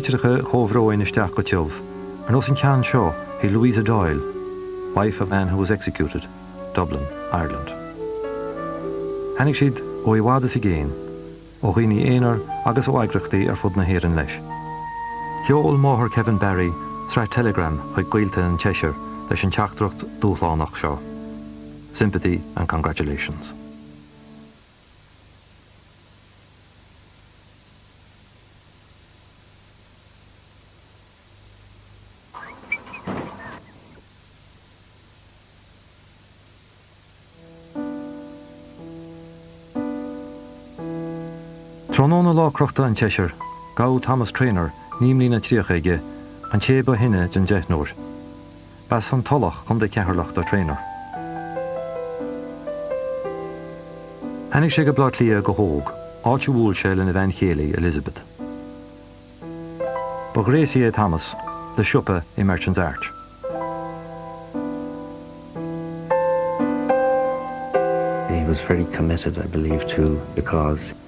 litreacha chomhbhróin isteach go tiubh, ar nós an ceann seo chuig Louisa Doyle, wife of a man who was executed, Dublin, Ireland. Tháinig siad ó i bhfad is i gcéin, ó dhaoine aonair agus ó eagraíochtaí ar fud na hÉireann leis. Sheol máthair Kevin Barry sraith teileagram chuig gaolta an tseisir leis an teachtaireacht dúshlánach seo, Sympathy and congratulations. Tráthnóna lá crochta an tseisir, gabhadh Thomas Traynor, naoi mbliana tríocha aige, an té ba shine den deichniúr. B'as an Tulach, Co. Cheatharlach do Traynor. Tháinig sé go Baile Átha Cliath go hóg, áit a bhuail sé lena bhean chéile Elizabeth. Ba ghréasaí é Thomas, le siopa i Merchant's Arch. He was very committed, I believe, to the cause.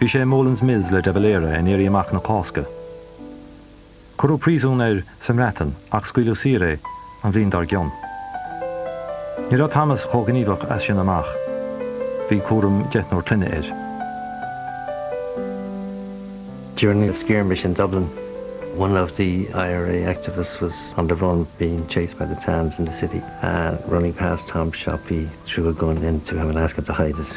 Bhí sé i mBoland's Mills le de Valera in Éirí Amach na Cásca. Cuireadh príosún air sa mBreatain ach scaoileadh saor é an bhliain dár gcionn. Ní raibh Thomas chomh gníomhach as sin amach. Bhí cúram deichniúr clainne air. During the skirmish in Dublin, one of the IRA activists was on the run, being chased by the Tans in the city and running past Tom's shop he threw a gun into him and asked him to hide it.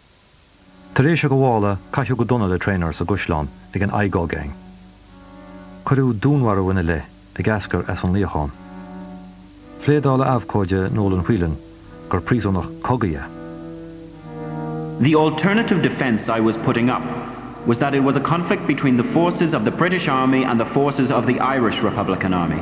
Tar éis a ghabhála, caitheadh go dona le Traynor sa gCaisleán ag an Igoe Gang. Cuireadh dúnmharú ina leith, ag eascair as an luíochán. Phléadáil a abhcóide Nolan Whelan gur príosúnach cogaidh é. The alternative defence I was putting up was that it was a conflict between the forces of the British Army and the forces of the Irish Republican Army.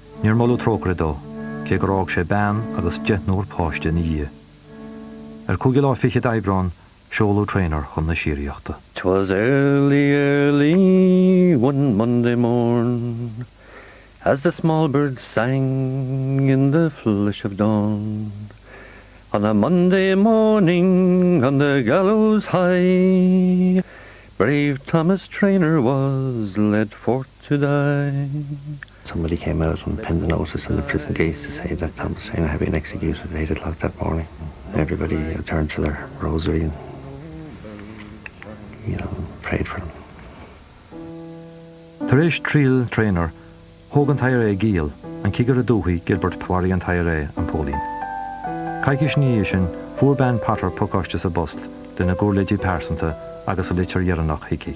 Níor moladh trócaire dó, cé gur fhág sé bean agus deichniúr páiste ina dhiaidh. Ar cúigiú lá fichead d'Aibreán, seoladh Traynor chun na síoraíochta. 'Twas early, early one Monday morn, As the small birds sang in the flush of dawn, On a Monday morning on the gallows high, Brave Thomas Traynor was led forth to die. Somebody came out and pinned a notice in the prison gates to say that Saddam Hussein had been executed at eight o'clock that morning and everybody turned to their rosary and you know, prayed for him. Tar éis triail Traynor, thóg an t-IRA giall, an Cigire Dúthaí Gilbert Mharaigh an t-IRA an póilín. Coicís ina dhiaidh sin, fuair bean Potter pacáiste sa bpost lena giuirléidí pearsanta agus a litir dheireanach Hickey.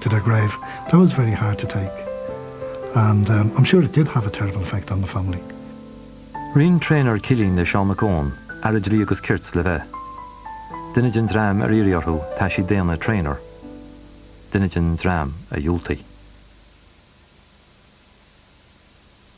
to their grave. That was very hard to take and ehm I'm sure it did have a terrible effect on the family. Roinn Traynor cillín le Seán Mac Eoin, Aire Dlí agus Cirt le bheith. Duine den dream ar iarradh orthu taisí daonna Traynor. Duine den dream a dhiúltaigh.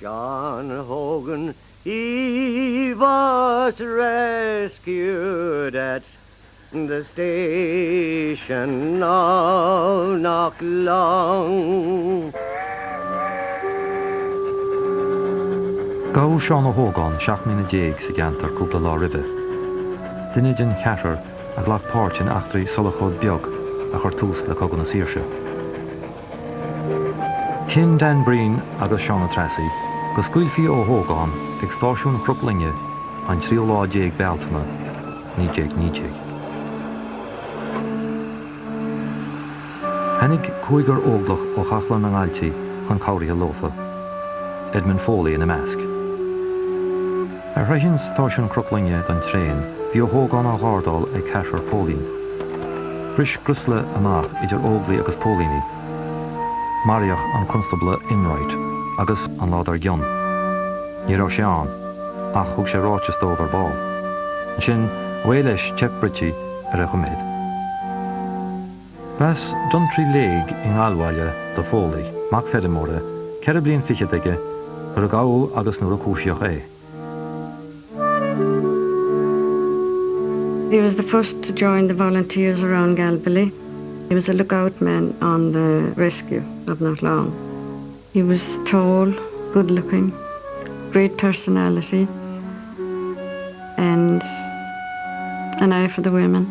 John Hogan he was rescued at the station of Knocklong. Gabhadh Seán Ó hÓgáin seacht mbliana déag d'aois sa gceantar cúpla lá roimhe. Duine den cheathrar a ghlac páirt in eachtraí Shulchóid Beag a chuir tús le Cogadh na Saoirse. Chinn Dan Breen agus Seán Ó Treasaigh go scaoilfí Ó hÓgáin ag stáisiún Chnoc Loinge an tríú lá déag Bealtaine, 1919. Tháinig cúigear Óglach ó Chathlán na nGailtí chun cabhraithe leofa, Edmund Foley ina measc. Ar shroicheadh stáisiún Chnoc Loinge don traein bhí Ó hÓgáin á ghardáil ag ceathrar póilín. Bhris griolsa amach idir Óglaigh agus póilíní. Maraíodh an Constábla Enright agus, an lá dar gcionn, ní raibh sé ann, ach thug sé ráiteas dóibh ar ball. Ansin, away leis, teip Britti ar a choiméad. B'as Dún Trí Léig i nGallbhaile do Foley, mac feirmeora, ceithre bliain fichead aige nuair a gabhadh agus nuair a cúisíodh é. He was the first to join the volunteers around Galbally. He was a look-out man on the rescue of not long. He was tall, good-looking, great personality and an eye for the women.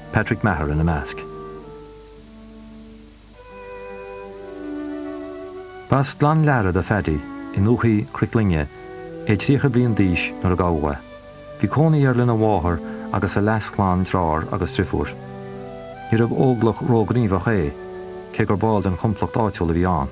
Patrick Maher ina measc. B'as Gleann Lára do Phaddy, i ndúthaigh Chnoc Loinge, é tríocha bliain d'aois nuair a gabhadh é. Bhí cónaí air lena mháthair agus a leas-chlann deartháir agus deirfiúr. Níorbh óglach róghníomhach é, cé gur ball den chomplacht áitiúil a bhí ann.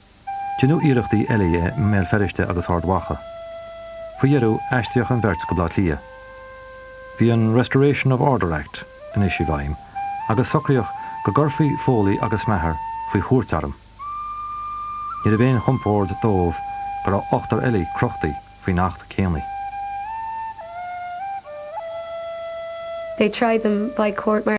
Deineadh iarrachtaí eile i mBéal Feirste agus Ard Mhacha. Faoi dheireadh, aistríodh an bheirt go Baile Átha Cliath. Bhí an Restoration of Order Act anois i bhfeidhm agus socraíodh go gcuirfí Foley agus Maher faoi chúirt airm. Níorbh aon chompord dóibh go raibh ochtar eile crochta faoin acht céanna. They tried them by court martial.